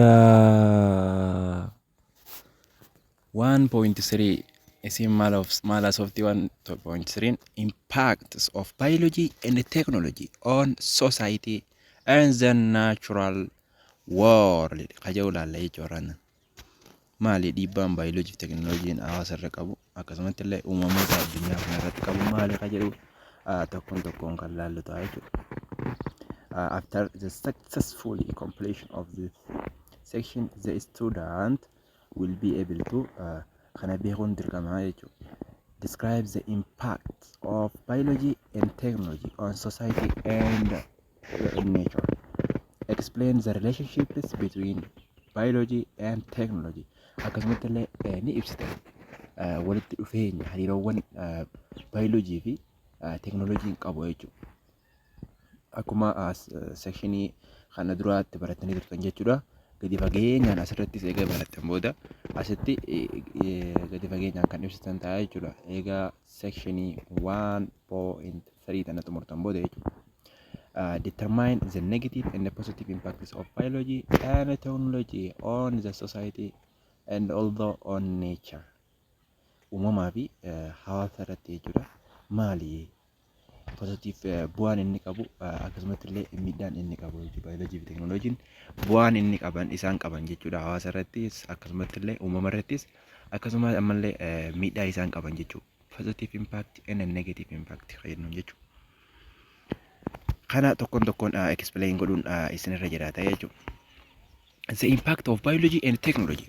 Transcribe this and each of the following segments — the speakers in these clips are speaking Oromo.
Yooyyaa! 1.3 Isin maal of- maal haasofti 1.3 Impacts of biology and technology on society and the natural world ka jedhu ilaalla jechuudha. maali dhiibbaan baayoloojii fi teekinooloojiin hawaasa irra qabu akkasumatti illee uumamoota addunyaa kana irratti qabu maali kan jedhu ah, tokkoon tokkoon kan laallu ta'a jechuudha. Ah, After the successful completion of this section the student will be able to ah, kana beekuun dirqama jechuudha. Describe the impact of biology and technology on society and in nature. Explain the relationships between biology and technology. Akkasumatti illee eh, ni ibsita Eh, walitti dhufeenya hariiroowwan eh, biology fi eh, teknolojiin qabu jechuudha. Akkuma as eh, sekshinii kana duraatti barattanii turtan jechuudha. Gadi fageenyaan asirrattis egaa barattan booda asitti eh, eh, gadi fageenyaan kan ibsitan ta'a jechuudha. Egaa section 1.3 tana xumurtan booda jechuudha. Uh, determine the negative and the positive impacts of biology and technology on the society and also on nature. Uumamaa fi uh, hawaasa irratti jechuudha. Maali? Pozitiif bu'aan inni qabu akkasumatti illee miidhaan inni qabu jechuudha. Baayoloojii fi teeknooloojiin bu'aan inni qaban isaan qaban jechuudha. Hawaasa irrattis akkasumatti illee uumama irrattis akkasumas ammallee miidhaa isaan qaban jechuudha. Positive impact and negative impact fayyadamuun jechuudha. Kana tokkoon tokkoon explain godhuun isinirra jiraata jechuudha. The impact of biology and technology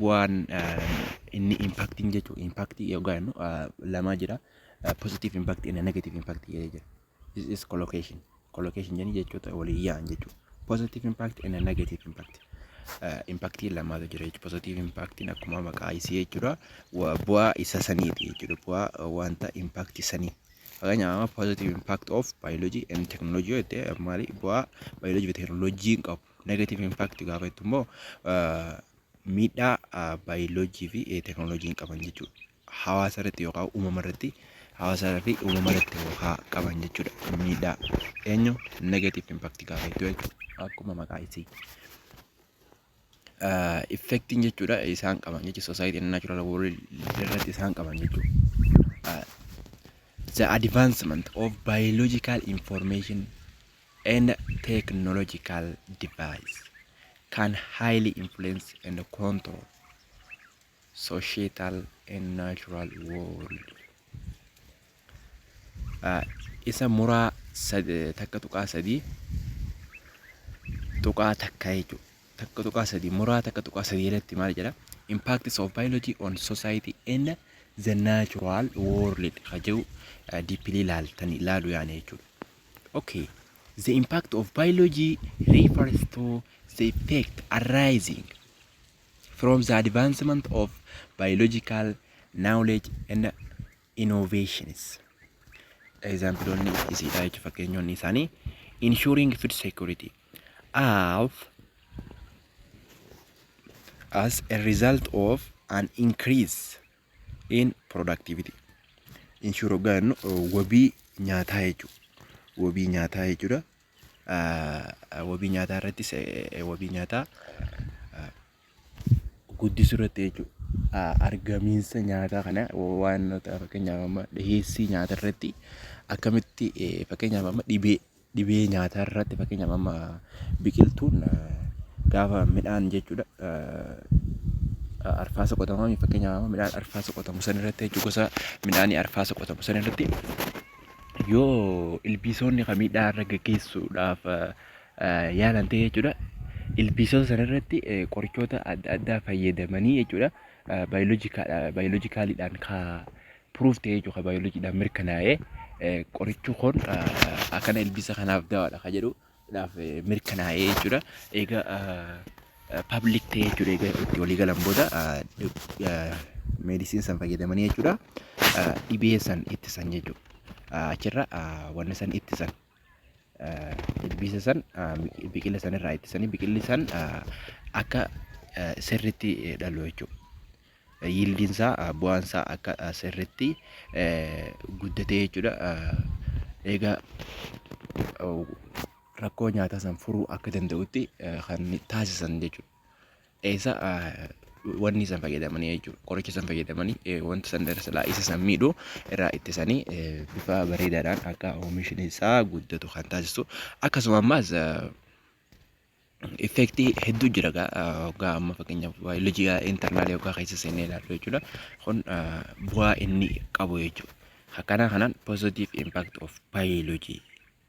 bu'aan inni impaktiin jechuun impaktii yookaan jennu lamaa jira. Positive impact and negative impact jedhee jira. This is collocation. Collocation jenni jechoota waliin yaa'an jechuudha. Positive impact and negative impact. Impaktiin lamaatu jira jechuudha. Positive impaktiin akkuma maqaa isii jechuudha. Bu'aa isa saniiti jechuudha. Bu'aa wanta impaktii sanii. Fakkeenyaaf amma positive impact of biology and technology yoo jette maali bu'aa biology fi teknolojiin qabu. Negative impact gaafa jettu immoo miidhaa biology fi teknolojiin qaban jechuudha. Hawaasa irratti yookaan uumama irratti hawaasaa fi uumama irratti yookaan qaban jechuudha. Miidhaa eenyu negative impact gaafa jettu jechuudha. Akkuma maqaa isii. effectiin jechuudha isaan qaban jechuudha society and natural world irratti isaan qaban jechuudha. The advancement of biological information and technological device can highly influence and control societal and natural world. isa muraa 1.3 tuqaa takka jechuudha. Takka tuqaa sadii muraa takka tuqaa sadii irratti maal jedha? Impacts of biology on society and the natural world ka jedhu dippilii laaltan ilaalu yaane jechuudha. Okay. The impact of biology refers to the effect arising from the advancement of biological knowledge and innovations egzaampiloonni isiidha jechuudha fakkeenyonni isaanii ensuring food security of as a result of an increase in productivity insure hoggaa jennu uh, wabii nyaataa jechuudha wabii nyaataa jechuudha uh, wabii nyaataa irrattis eh, eh, wabii nyaataa uh, guddisuu irratti jechuudha. Argamiinsa nyaataa kana waan fakkeenyaaf amma dhiyeessii nyaataa irratti akkamitti fakkeenyaaf amma dhibee nyaataa irratti fakkeenyaaf amma biqiltuun gaafa midhaan jechuudha arfaasaa qotamu fakkeenyaaf amma midhaan arfaasaa qotamu sana irratti jechuudha gosa midhaanii arfaasaa qotamu sana irratti yoo ilbiisonni kan miidhaa irra gaggeessuudhaaf yaalan ta'e jechuudha. Ilbiisota sana irratti qorichoota adda addaa fayyadamanii jechuudha. Baayoloojikaaliidhaan ka puruuf ta'e jechuudha. Baayoloojiidhaan mirkanaa'ee qorichi kun akkana ilbiisa kanaaf dawaadha ka jedhu dhaaf mirkanaa'ee jechuudha. Egaa pabliik ta'e jechuudha. Egaa itti walii galan booda meedisiin san fayyadamanii jechuudha. Dhibee san ittisan jechuudha. Achirra wanni san ittisan. ilbiisa san biqila san irraa ittisanii biqilli san akka sirritti dhalu jechuudha. Yiildiin isaa bu'aan isaa akka sirritti guddatee jechuudha. Egaa rakkoo nyaataa san furuu akka danda'utti kan taasisan jechuudha. isa wanni san fayyadamanii jechuudha. Qoricha san fayyadamanii wanta san darsilaa isa san miidhu irraa ittisanii bifa bareedaadhaan akka oomishni isaa guddatu kan taasisu akkasuma ammaas effektii hedduu jira egaa amma fakkeenyaaf baayoloojii intarnaalii yookaan keessa seennee ilaallu jechuudha. Kun bu'aa inni qabu jechuudha. Akkanaa kanaan positive impact of biology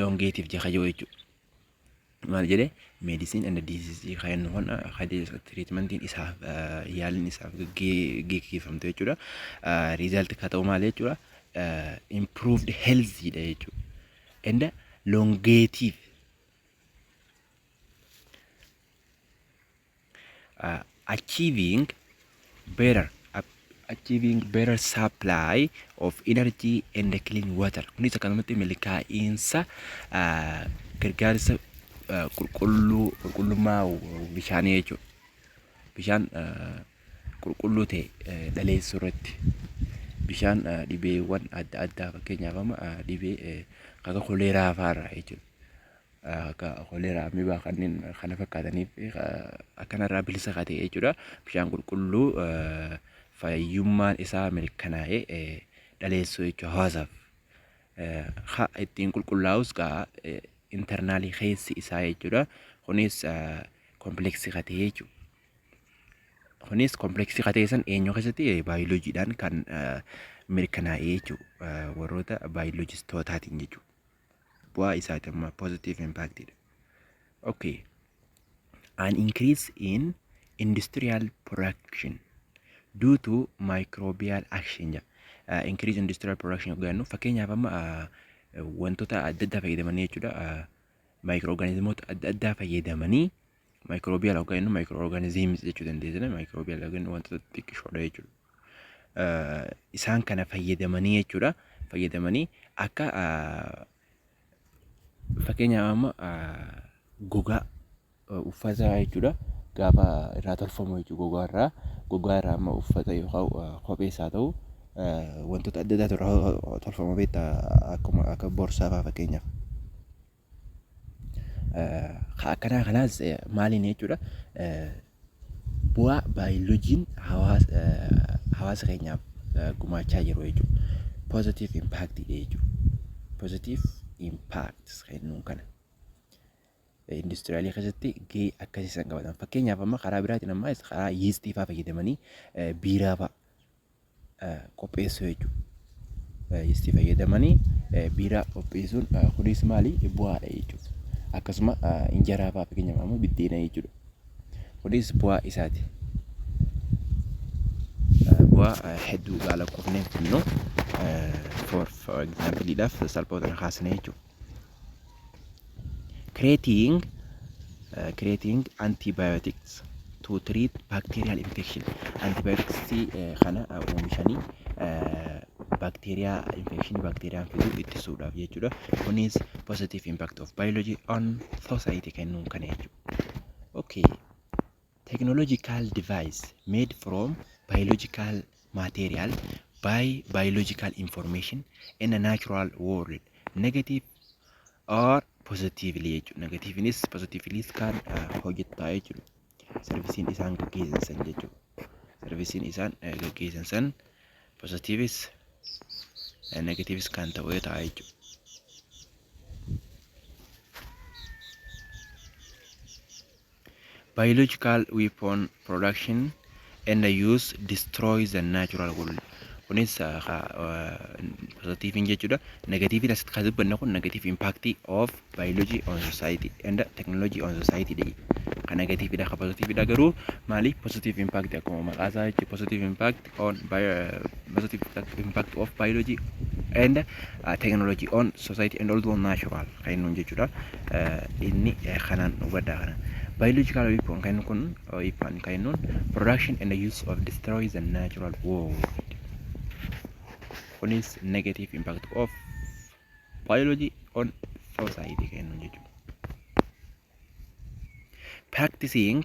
longeetif jeka yoo jechu maal jedhe medicine and disease kan hon treatmentiin isaaf yaalin isaaf geggeeffamte jechuudha result ka ta'u maal jechuudha improved health dha jechuudha and longeetif achieving better achieving better supply of energy and clean water kunis akkanumatti milkaa'iinsa gargaarsa qulqulluu qulqullummaa bishaanii jechuudha. Bishaan qulqulluu ta'e dhaleessuu irratti bishaan dhibeewwan adda addaa fakkeenyaaf amma dhibee akka koleeraa fa'aarraa jechuudha. akka koleeraa, amibaa kanneen kana fakkaataniif akkanarraa bilisa ka ta'e jechuudha. Bishaan qulqulluu fayyummaan isaa mirkanaa'ee dhaleessuu jechuudha hawaasaaf. Ha ittiin qulqullaa'us gaa internaalii keessi isaa jechuudha. Kunis kompleksii ka ta'e jechuudha. Kunis kompleksii ka ta'e san eenyu keessatti baayoloojiidhaan kan mirkanaa'e jechuudha. Warroota baayoloojistootaatiin jechuudha. bu'aa isaati amma positive impact dha. Okay. An increase in industrial production due to microbial action jedha. Uh, increase industrial production yoo jennu fakkeenyaaf amma uh, wantoota adda addaa fayyadamanii jechuudha. Uh, Maayikirooorgaanizimoota adda addaa fayyadamanii Maayikiroobiyaal hoggaa jennu maayikiroo orgaaniziimis jechuu dandeessina. Maayikiroobiyaal hoggaa jennu wantoota xixiqqishoodha jechuudha. Isaan kana fayyadamanii jechuudha. Fayyadamanii akka fakkeenyaaf amma gogaa uffataa jechuudha. Gaafa irraa tolfamu jechuudha gogaa irraa. Gogaa irraa amma uffata yookaan kophees haa ta'u wantoota adda addaatu irraa tolfama beektaa akkuma akka borsaa fa'aa fakkeenyaaf. Ka akkanaa kanaas maaliin jechuudha bu'aa baayolojiin hawaasa keenyaaf gumaachaa jiru jechuudha. Positive impact jechuudha. Positive impact kennuun kana. Industiriyaalii keessatti gahee akkasii san qabatan. Fakkeenyaaf amma karaa biraatiin amma karaa yiistii fa'aa fayyadamanii biiraa fa'aa qopheessuu jechuudha. Yeestii fayyadamanii biiraa qopheessuun kunis maali bu'aadha jechuudha. Akkasuma injaraa fa'aa fakkeenyaaf ammoo biddeena jechuudha. Kunis bu'aa isaati. Bu'aa hedduu gaala qofnee fidnu for example salphoota kaasnee jechuudha. creating uh, creating antibiotics to treat bacterial infection antibiotics uh, kana uh, oomishanii uh, bacteria infection bacteria fidu ittisuudhaaf jechuudha kunis positive impact of biology on society kennuun kana jechuudha okay Technological device made from biological material by biological information in a natural world negative or positively jechuudha. Negatiivinis positiiviliis kan hojjetaa jechuudha. Sarvisiin isaan gaggeessan san jechuudha. Sarvisiin isaan gaggeessan san positiivis negatiivis kan ta'u ta'a jechuudha. Biological weapon production and use destroy the natural world. Kunis positiiviin jechuudha. Negatiiviin asitti kan dubbanne kun negative impact of biology on society and technology on society dha. Kan negatiiviidha kan positiiviidha garuu maali positive impact akkuma maqaa isaa jechuudha positive impact on positive impact of biology and uh, technology on society and also on natural kan inni jechuudha inni kanaan hubadhaa kana biological weapon kan kun weapon kan inni production and use of destroy the natural world kunis negative impact of biology on society kan inni jechuudha practicing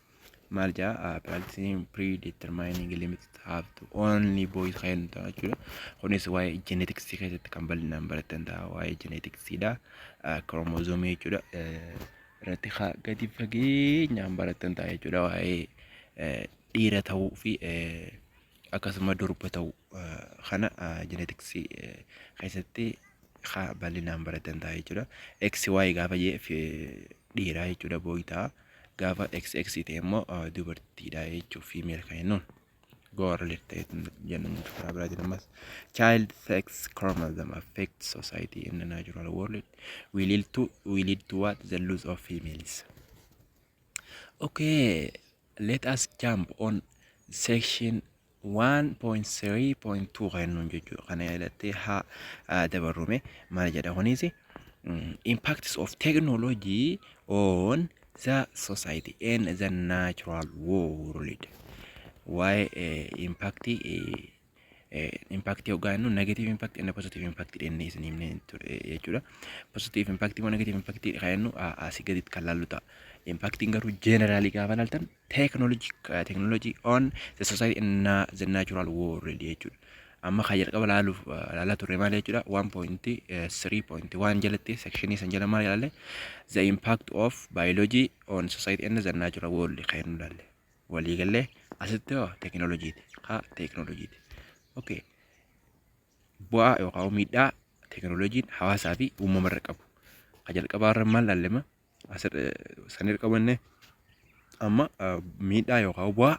maal jaa practicing predetermining limit have to only boys kan ta'a jechuudha. Kunis waa'ee genetics keessatti kan bal'inaan baratan ta'a waa'ee genetics dha. Chromosome jechuudha. Irratti haa gadi fageenyaan baratan ta'a jechuudha waa'ee dhiira ta'uu fi akkasuma durba ta'uu kana genetics keessatti haa bal'inaan baratan ta'a jechuudha. XY gaafa jee dhiiraa jechuudha booyi ta'a. Gaafa XX ta'e immoo dubartiidha jechuuf female kan jennuun. Goa relate ta'e jennu nuti karaa biraatiin ammas child sex chromosomes affect society in the natural world we lead to we lead to what the loss of females. Okay, let us jump on section 1.3.2 kan nuun jechuudha kana yaadattee haa ah, dabarrume maal jedha kunis impacts of technology on the society and the natural world waa'ee eh, impactii eh, eh, impact yookaan nu negative impact and positive impact jennee isin himne ture jechuudha. Positive impact moo negative impact kan jennu a- asii gaditti kan laallu ta'a. Impactiin garuu generally gaafa laaltan technology uh, technology on the society in na, the natural world jechuudha. Amma kan jalqaba ilaaluuf uh, ilaalaa turre maal jechuudha 1.3.1 jalatti sekshinii san jala maal ilaalle the impact of biology on society in the natural world kan nu ilaalle walii gallee asitti hoo tekinooloojiiti haa tekinooloojiiti okay bu'aa yookaan miidhaa tekinooloojiin hawaasaa fi uumama irra qabu kan jalqabaa irra maal ilaallema sanirra qabanne amma miidhaa yookaan bu'aa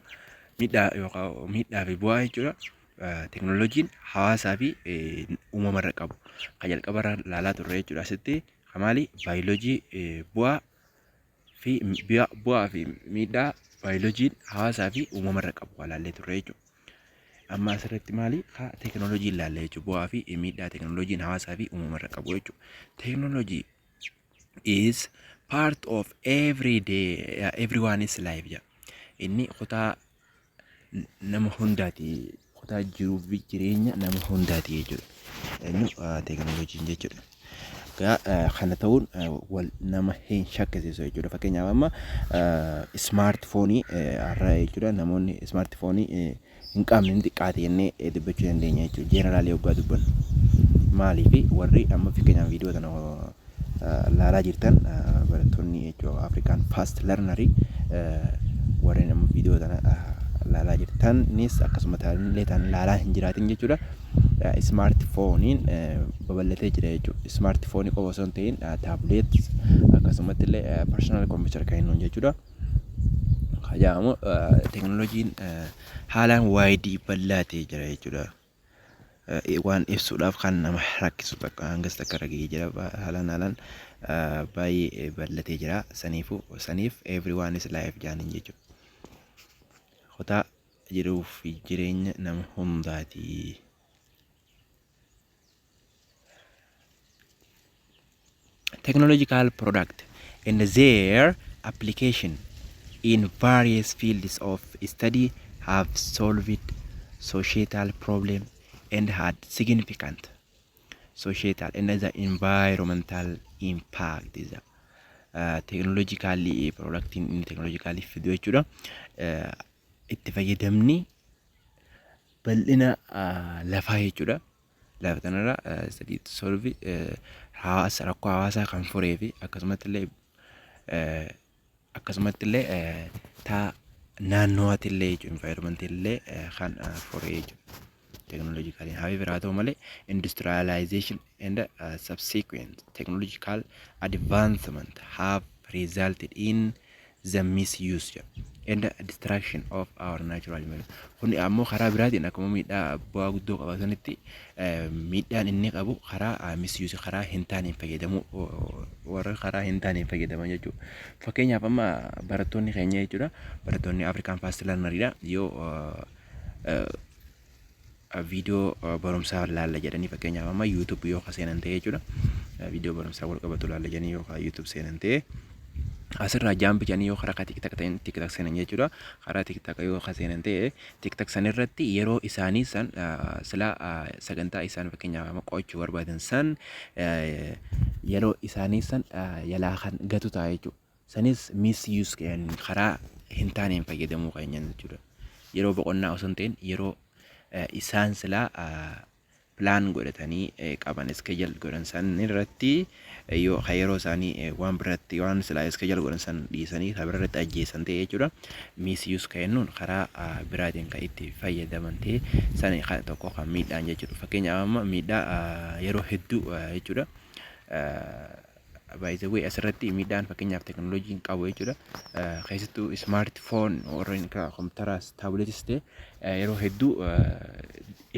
miidhaa yookaan miidhaa fi bu'aa jechuudha. Teknooloojiin hawaasaa fi uumamarra qabu kan jalqabarra ilaalaa turre jechuudha. Asitti kan maali baayoloojii bu'aa fi bu'aa fi miidhaa baayoloojiin hawaasaa fi uumamarra qabu kan ilaallee turre jechuudha. Amma asirratti maali haa teknooloojii ilaalle jechuudha. Bu'aa fi miidhaa teknooloojiin hawaasaa fi uumamarra qabu jechuudha. Teknooloojii is part of every day uh, everyone's life jedha inni kutaa n- nama hundaati kutaa jiruu fi jireenya nama hundaati jechuudha inni uh, teekinooloojiin jechuudha Gaa, uh, kana ta'uun uh, wal nama hin shakkisiisu jechuudha fakkeenyaaf amma uh, ismaartifoonii uh, har'a jechuudha namoonni ismaartifoonii uh, hin qabne ni xiqqaate jennee dubbachuu dandeenya jechuudha. Jeenaraalii hoggaa dubbannu. Maaliif warri amma fakkeenyaaf viidiyoo tana laalaa jirtan barattoonni jechuudha Afrikaan faast larnarii warreen amma viidiyoo tana laalaa jirtanis akkasuma taanillee taan laalaa hin jiraatin jechuudha. Ismaarti fooniin babal'atee jira jechuudha. Ismaarti foonii qofa osoo hin ta'in taabuleet akkasumatti illee parsonaal kompiitar kan jennuun jechuudha. Kan jedhamu teekinooloojiin haalaan waayidii bal'aa ta'ee jira jechuudha. Waan ibsuudhaaf kan nama rakkisu bakka hangas takka irra gahee jira. Haalaan haalaan baay'ee bal'atee jira. Saniifuu saniif everyone is life jaaniin jechuudha. Kutaa jiruu fi jireenya nama hundaati. technological product and their application in various fields of study have solved societal problem and had significant societal and the environmental impact is a teeknooloojikaalli piroodaaktiin inni teeknooloojikaalli fidu jechuudha. Itti fayyadamni bal'ina lafaa jechuudha. Lafa tanarra sadii solvi hawaasa rakkoo hawaasaa kan furee fi akkasumatti illee akkasumatti illee taa naannooti illee jechuun environment illee kan furee jechuudha. Teknoolojikaalii haa biraa ta'u malee industrialization and uh, subsequent technological advancement have resulted in the misuse and destruction of our natural environment. Kun ammoo karaa biraatiin akkuma miidhaa bu'aa guddoo qaba sanitti eh, miidhaan inni qabu karaa ah, misuse karaa hin taaneen fayyadamuu oh, warra karaa hin taaneen fayyadaman jechuudha. Fakkeenyaaf amma barattoonni keenya jechuudha barattoonni Afrikaan faast larnaridha yoo eh, eh, viidiyoo barumsaa laalla jedhanii fakkeenyaaf amma YouTube yoo ka seenan ta'e jechuudha. Viidiyoo barumsaa wal qabatu laalla jedhanii yoo ka YouTube seenan ta'e asirraa jaampi jedhanii yoo karaa tiktak ta'een tiktak seenan jechuudha. Karaa tiktak yoo ka seenan ta'e tiktak san irratti yeroo isaanii san sila sagantaa isaan fakkeenyaaf amma qo'achuu barbaadan san yeroo isaanii san yalaa kan gatu ta'a jechuudha. Sanis misuse kan karaa hin taaneen fayyadamuu keenyaan jechuudha. Yeroo boqonnaa osoo hin ta'in yeroo eh, isaan silaa ah, pilaan godhatanii eh, qaban iskejal godhan san irratti eh, yoo ka yeroo isaanii eh, waan biratti waan silaa iskejal godhan san dhiisanii ka bira irratti ajjeessan ta'e jechuudha. Misuse kan jennuun karaa ah, biraatiin kan itti fayyadaman ta'e sani kan tokko kan miidhaan jechuudha. Fakkeenyaaf amma miidhaa ah, yeroo hedduu ah, jechuudha. Ah, by the way asirratti miidhaan fakkeenyaaf teknooloojiin qabu jechuudha. Keessattuu smart phone warreen akka kompiitaraas taabileetis ta'e yeroo hedduu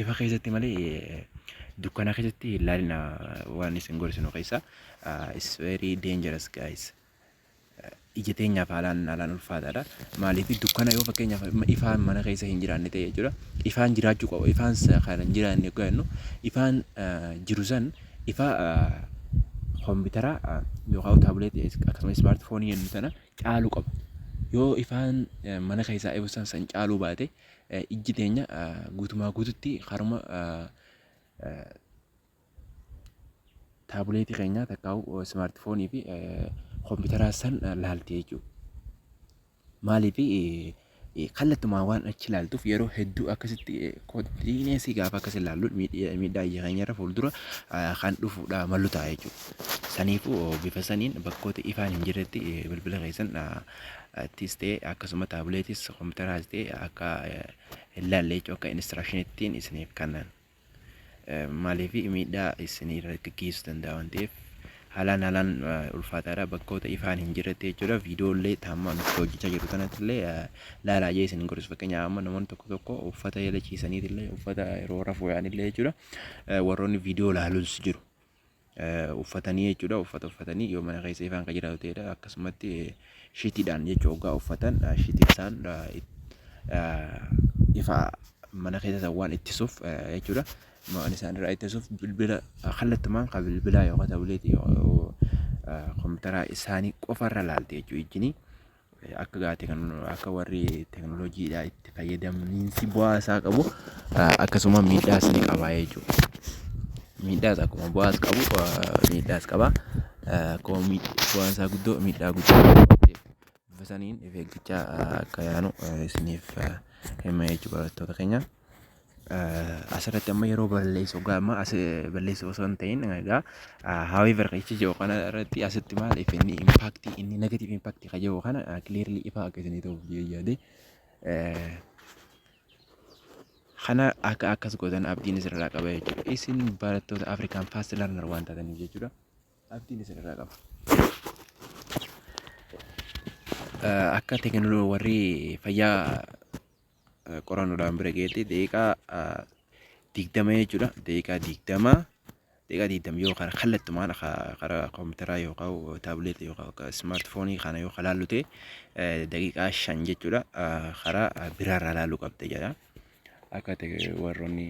ifa keessatti malee dukkana keessatti ilaalina waan isin gorsinu keessaa is very dangerous guys. ija teenyaaf haalaan haalaan ulfaataadha. Maaliif dukkana yoo fakkeenyaaf ifaan mana keessa hin jiraanne ta'e jechuudha. Ifaan jiraachuu qaba. Ifaan kan hin jiraanne yoo jennu ifaan jiru san ifa kompiitara yookaan taabileetii akkasumas ismaartifoonii jennu sana caaluu qaba. Yoo ifaan mana keessaa ifu san san caaluu baate ijji teenya guutumaa guututti haruma taabuleetii keenyaa takkaa'u ismaartifoonii fi kompiitaraa san laalti jechuudha. Maaliif kallattumaa waan achi laaltuuf yeroo hedduu akkasitti kontiineesii gaafa akkas ilaallu miidhaa ija keenyarra fuuldura kan dhufuudha malu ta'a jechuudha. Saniifuu bifa saniin bakkoota ifaan hin jirretti bilbila keessan tis ta'e akkasuma taabuleetis kompiitaraas ta'e akka hin laalle jechuudha akka inistiraakshiniittiin isiniif kannan. Maaliif miidhaa isinii irra gaggeessuu danda'a waan ta'eef haalaan haalaan ulfaataadha bakkoota ifaan hin jirretti jechuudha viidiyoollee taamma nuti hojjechaa jiru kanatti illee laalaa jee isin gorsu fakkeenyaaf amma namoonni tokko tokko uffata eela ciisaniitillee uffata yeroo rafuu yaanillee jechuudha warroonni viidiyoo laalus jiru uffatanii jechuudha. Uffata uffatanii yoo mana keessa ifaan kan jiraatu ta'edha. Akkasumatti shitiidhaan jechuudha hoggaa uffatan shitiin isaan ifa mana keessa san waan ittisuuf jechuudha. Waan isaan irraa ittisuuf bilbila kallattumaan kan bilbilaa yookaan taabileetii kompiitaraa isaanii qofarra laalti jechuudha ijjinii. akka gaati kan akka warri teknolojiidhaa itti fayyadamniinsi bu'aa isaa qabu akkasuma miidhaas ni qabaa jechuudha. Miidhaas akkuma bu'aas qabu miidhaas qabaa akkuma bu'aan isaa guddoo miidhaa guddaa qaba. Bifa saniin of eeggachaa akka yaanu isiniif hima jechuudha barattoota keenya. Asirratti amma yeroo balleessu egaa amma as balleessu osoo hin ta'in egaa however jechi jedhu kana irratti asitti maal if inni impact inni negative impact ka jedhu kana clearly ifa akka isinii ta'uuf yaade kana akka akkas gootan abdiin isinirraa qaba jechuudha. Isin barattoota Afrikaan fast learner waan taataniif jechuudha. Abdiin isinirraa qaba. Akka teekinooloojii warri fayyaa qorannoodhaan bira geetti daqiiqaa digdama jechuudha daqiiqaa digdama daqiiqaa digdama yoo karaa kallattumaan karaa kompiitaraa yookaan taabileetii yookaan ismaartifoonii kana yoo kalaallu ta'e daqiiqaa shan jechuudha karaa biraarraa laaluu qabda jedha akka warroonni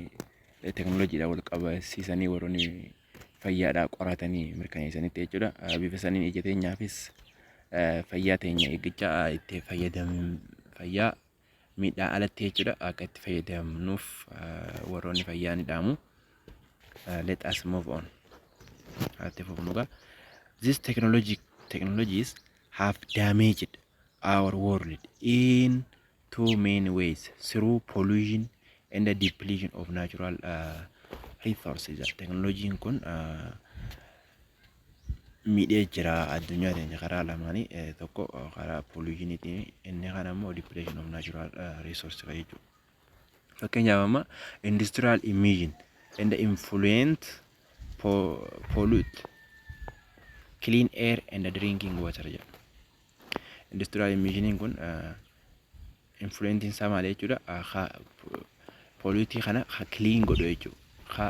teekinooloojiidhaan wal qabsiisanii warroonni fayyaadhaa qoratanii mirkaneessanitti jechuudha. Bifa saniin ija teenyaafis fayyaa teenya eeggachaa itti fayyadamnu fayyaa miidhaa alatti jechuudha akka itti fayyadamnuuf warroonni fayyaa ni dhaamu. Let us move on. Haati fufnugaa. This technology technologies have damaged our world in two main ways through pollution and the depletion of natural uh, resources. Teknolojiin kun uh, miidhee jira addunyaa teenya karaa lamaanii eh, tokko eh, karaa pollution'itiin inni kan ammoo depletion of natural eh, resource kan jechuudha. Fakkeenyaaf amma industrial emission and the influent po- pollute clean air and the drinking water jedha. Industiraal immiishiniin kun influentiin isaa maali jechuudha ka pooliitii kana ka kiliin godhu jechuudha ka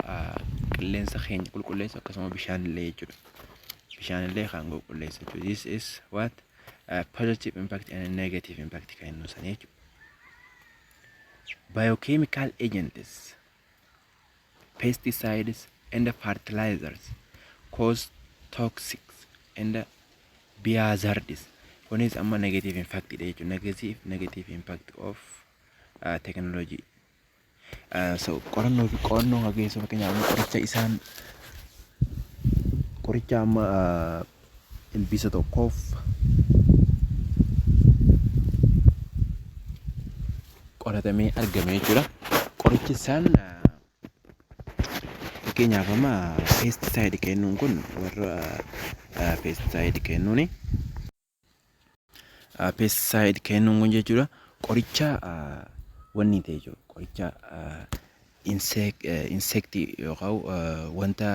qilleensa keenya qulqulleessu akkasuma bishaan illee jechuudha bishaan illee kan qulqulleessu jechuudha this is what uh, positive impact and negative impact kan inni ibsan jechuudha biochemical agents pesticides and fertilizers cause toxic and biohazards kunis amma negative impact dha jechuudha negative negative impact of uh, technology uh, so qorannoo fi qorannoo hageessuu fakkeenyaaf qoricha isaan qoricha amma uh, Ilbiisa tokkoof. qoratamee argame jechuudha. Qorichi isaan fakkeenyaaf amma peestisaayid kennuun kun warra peestisaayid kennuuni. pesticide kennuun kun jechuudha qoricha wanni ta'e jechuudha qoricha insektii yookaan wanta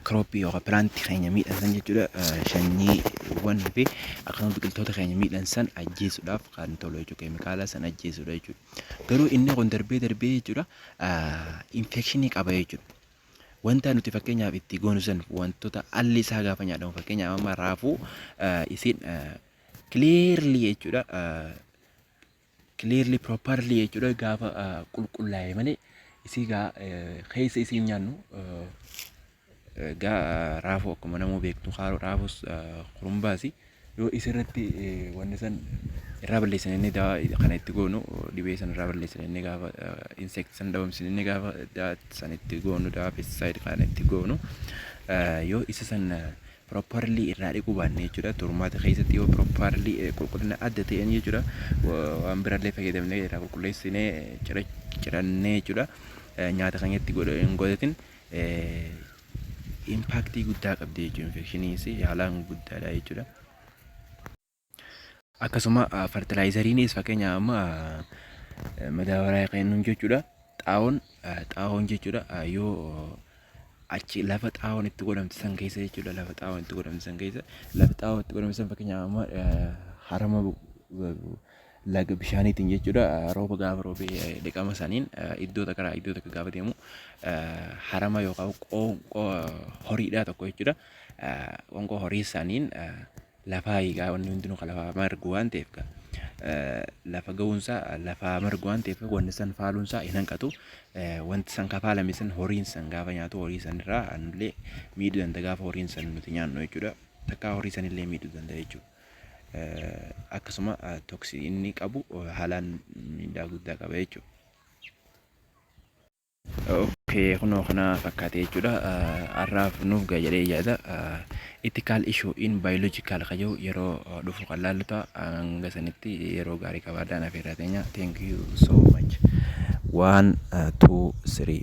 kirooppii yookaan pilaantii keenya miidhansan jechuudha sanyiiwwan fi akkasuma biqiltoota keenya miidhansan ajjeesuudhaaf kan tolu jechuudha keemikaala san ajjeesuudha jechuudha garuu inni kun darbee darbee jechuudha infekshinii qaba jechuudha Wantaa nuti fakkeenyaaf itti goonu san wantoota alli isaa gaafa nyaatamu fakkeenyaaf amma raafuu isin clearly jechuudha clearly properly jechuudha gaafa qulqullaa'e malee isii gaa keessa isii nyaannu gaa raafuu akkuma namuu beektu raafus kurumbaasi. Uh, Yoo isa irratti wanni san irraa balleessan inni dawaa kana itti goonu dhibee san irraa balleessan inni gaafa insect san dhabamsin inni gaafa dawaa san itti goonu dawaa pesticide kana itti goonu yoo isa san properly irraa dhiquu baanne jechuudha turmaata keessatti yoo properly qulqullina adda ta'een jechuudha waan birallee fayyadamnee irraa qulqulleessinee cirannee jechuudha nyaata keenyatti godhatin impaaktii guddaa qabdi jechuudha. Infekshiniinis haalaan guddaadha jechuudha. Akkasuma fartilaayizariinis fakkeenya amma madaabaraa kennuun jechuudha. Xaa'oon xaa'oon jechuudha yoo achi lafa xaa'oon itti godhamte san keessa jechuudha lafa xaa'oon itti godhamte san keessa lafa xaa'oon itti godhamte san fakkeenya amma harama laga bishaaniitiin jechuudha. Rooba gaafa roobee dhiqama saniin iddoo takka irraa iddoo takka gaafa deemu harama yookaan qoonqoo horiidhaa tokko jechuudha. Qoonqoo horii saniin lafaa eegaa wanni hundinuu kan lafaa margu waan ta'eef gaa. Lafa ga'uunsaa lafaa margu waan ta'eef wanni san faaluunsaa hin hanqatu. Wanti san kafaalame san horiin san gaafa nyaatu horii san irraa anullee miidhuu danda'a gaafa horiin san nuti nyaannu jechuudha. Takkaa horii sanillee miidhuu danda'a jechuudha. akkasuma toksii inni qabu haalaan miidhaa guddaa qaba jechuudha. Okay, kunoo kana fakkaatee jechuudha. Har'aaf nuuf ga'a jedhee yaada. Ethical issue in biological ka jiru yeroo dhufu kan laallu ta'a. Hanga sanitti yeroo gaarii qabaadhaan afeerraa teenya. Thank you so much. One, two, three.